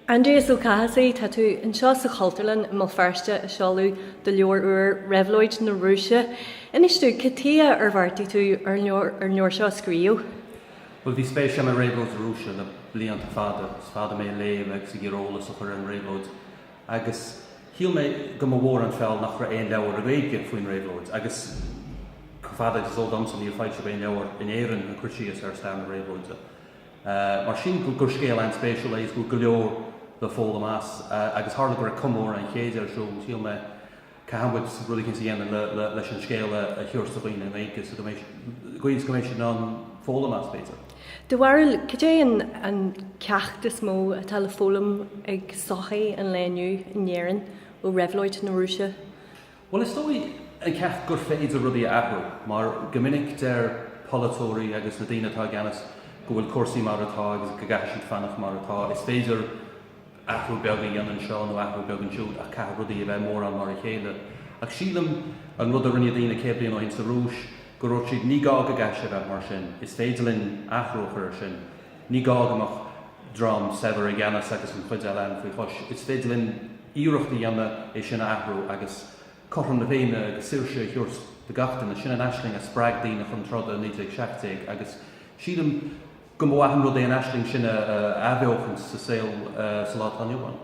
Aindrias Ó Cathasaigh, Tá tú anseo sa Chultúrlann i mBéal Feirste ag seoladh do leabhar úr, Réabhlóid na Rúise. Inis domh, cad tuighe ar bheartaigh tú ar an leabhar seo a scríobh? Bhuel, bhí spéis agam i réabhlóid na Rúise le blianta fada, is fada mé ag léamh agus ag iarraidh eolas a chur ar an réabhlóid, agus shíl mé go mba mhór an feall nach raibh aon leabhar i nGaeilge faoin réabhlóid, agus chomh fada is is eol domsa, níor foilsíodh aon leabhar in Éirinn ag cur síos ar stair na réabhlóide. Mar sin, gur scéal an-spéisiúil é is go bhfuil go leor le foghlaim as. Agus tharla go raibh comóradh an chéid ar siúl, shíl mé, caithfidh muid rud éicint a dhéanamh leis an scéal a chur os comhair daoine i nGaeilge is go mbeidh siad in ann foghlaim as, b'fhéidir. Do bharúil, cad é an ceacht is mó atá le foghlaim ag sochaí an lae inniu in Éirinn ó réabhlóid na Rúise? Bhuel, is dóigh an ceacht gur féidir rudaí a athrú, mar go minic deir polaiteoirí agus na daoine atá i gceannas go bhfuil cúrsaí mar atá agus go gcaithfidh siad fanacht mar atá. Is féidir athrú beag a dhéanamh anseo nó athrú beag ansiúd ach caithfidh rudaí a bheith mórán mar a chéile. Ach sílim, an rud a rinne daoine céad bliain ó shin sa Rúis, go ndúirt siad 'ní gá go gcaithfidh sé bheith mar sin, is féidir linn athrú a chur air sin'. Ní gá go mbeadh dream saibhir i gceannas agus an chuid eile againn faoi chois. Is féidir linn iarracht a dhéanamh é sin a athrú agus cothrom na féinne agus saoirse a thabhairt do gach duine. Sin an aisling a spreag daoine chun troda i 1917 agus sílim go mba mhaith an rud é an aisling sin a athbheochaint sa saol sa lá atá inniu ann.